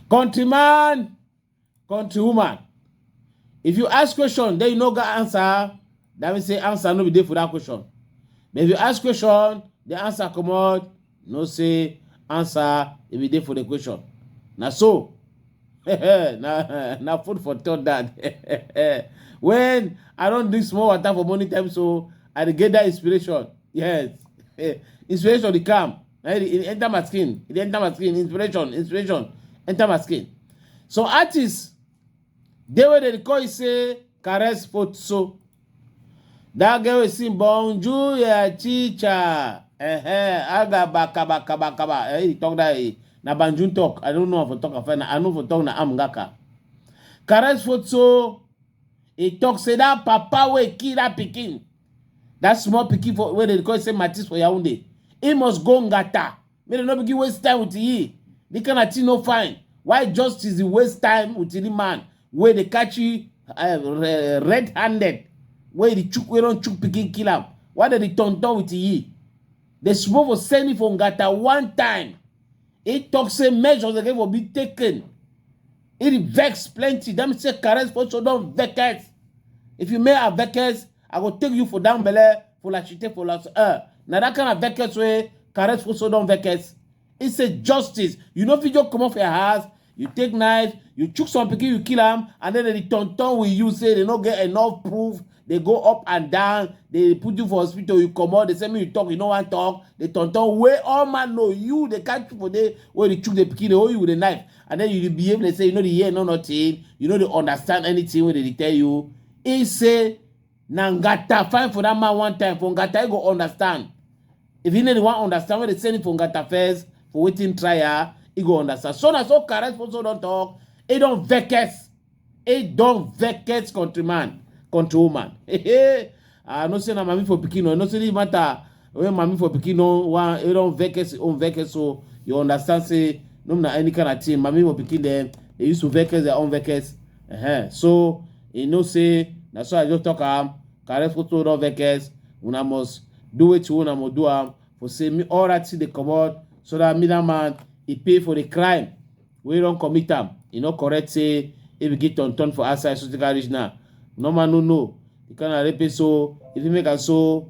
Countryman, countrywoman, if you ask question, then you no get answer, that means say answer no be there for that question. But if you ask question, the answer come out, you know say answer e be dey for the question na so na na food for thought that when i don drink small water for morning time so i dey get that inspiration yes inspiration dey come na e dey enter my skin e dey enter my skin inspiration inspiration enter my skin some artists Dey wey dey call you say caress foot so. That girl wey sing bonjour ya chicha. Eh, aga baka baka baka ba. Eh, he talk that eh, na banjun talk. I don't know if I talk afena. I know if I talk na amgaka. Caress foot so. He talk say that papa wey kill that pikin. That small pikin for wey dey call say Matis for Yaoundé. He must go ngata. make dem no begin waste time with ye the kind of thing no fine why justice dey waste time with the man wey dey catch you uh, red handed wey dey chook wey don chook pikin kill am why dem dey turn turn with ye dem suppose for send him for ngata one time he talk say measures again for be taken he dey vex plenty dem say caress also don vex if you make her vex I go take you for down belle for la chite for la uh, na that kind of veckets wey caress for so don veckets. He say justice. You no fit just comot for your house. You take knife, you chook some pikin, you kill am, and then they turn turn with you say they no get enough proof. They go up and down. They put you for hospital. You comot. They say me you talk. You no wan talk. They turn turn wey all man know you. They catch you for there wey they chook the pikin. They hold you with a knife, and then you dey behave. They say you no dey hear no nothing. You no dey understand anything wey they dey tell you. He say na ngata find for that man one time for ngata he go understand. If he no wan understand when they send him for ngata first for waiting trial he go understand. So na so Kares also don talk he don vex he don vex countryman countrywoman. I know say na mami for pikin o, I know say this matter When mami for pikin don wan e don vex his own vex so you understand say no be na any kind of thing mami for pikin dem dey use to vex their own vex uh-huh. so e know say na so i just talk am carry photo don vex una must do wetin una must do am for say me all right thing dey comot so that me that man e pay for the crime wey don commit am e no correct say e begin turn turn for outside so take am reach now normal no know the kind of rapist so if you make am so